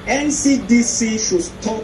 NCDC should stop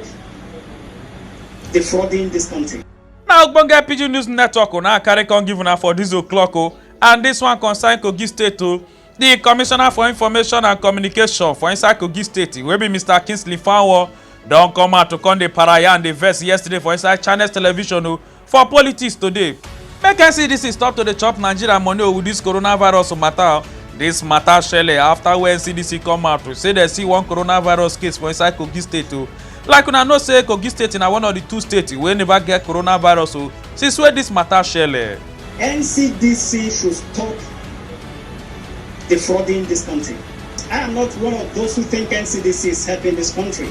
defrauding this country. na ogbonge pidgin news network o na carry come give una for dis o'clock o and dis one concern kogi state o di commissioner for information and communication for inside kogi state wey be mr kingsley fanwo don come out to come dey paraya and dey vex yesterday for inside channels television o For politics today, make NCDC stop to dey chop Nigeria money with this coronavirus matter. This matter shele after wey NCDC come out to say dem see one coronavirus case for inside Kogi state o. Like una know say Kogi state na one of the two states wey never get coronavirus o since wey this matter shele. NCDC should stop defrauding this country. I am not one of those who think NCDC is helping this country.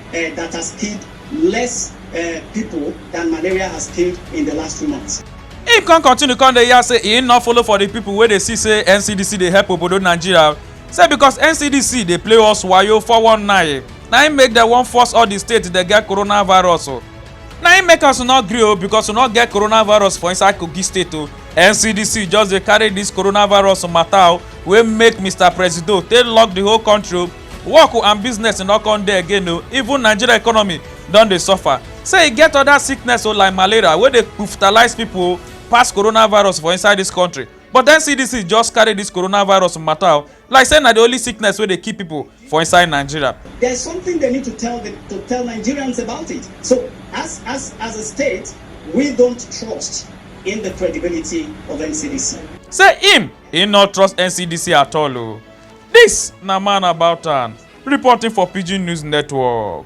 um that has killed less um pipo dan malaria has killed in di last two months. Im come continue come dey yarn say im no follow for di pipo wey dey see say NCDC dey help obodo Nigeria say because NCDC dey play us wayo 419 na im make dem wan force all di states dey get coronavirus o. Na im make us no gree o because we no get coronavirus for inside Kogi state o. NCDC just dey carry dis coronavirus mata o wey make Mister Presido take lock di whole country o. work and business no come dey again o even nigeria economy don dey suffer say e get other sickness o like malaria wey dey kpuftalize pipo pass coronavirus for inside dis country but ncdc just carry dis coronavirus matter o like say na di only sickness wey dey kill pipo for inside nigeria. there's something they need to tell the, to tell Nigerians about it. So, as as as a state, we don't trust in the credibility of NCDC. say im e no trust ncdc at all o. Dis na Man About Town reporting for Pidgin News Network.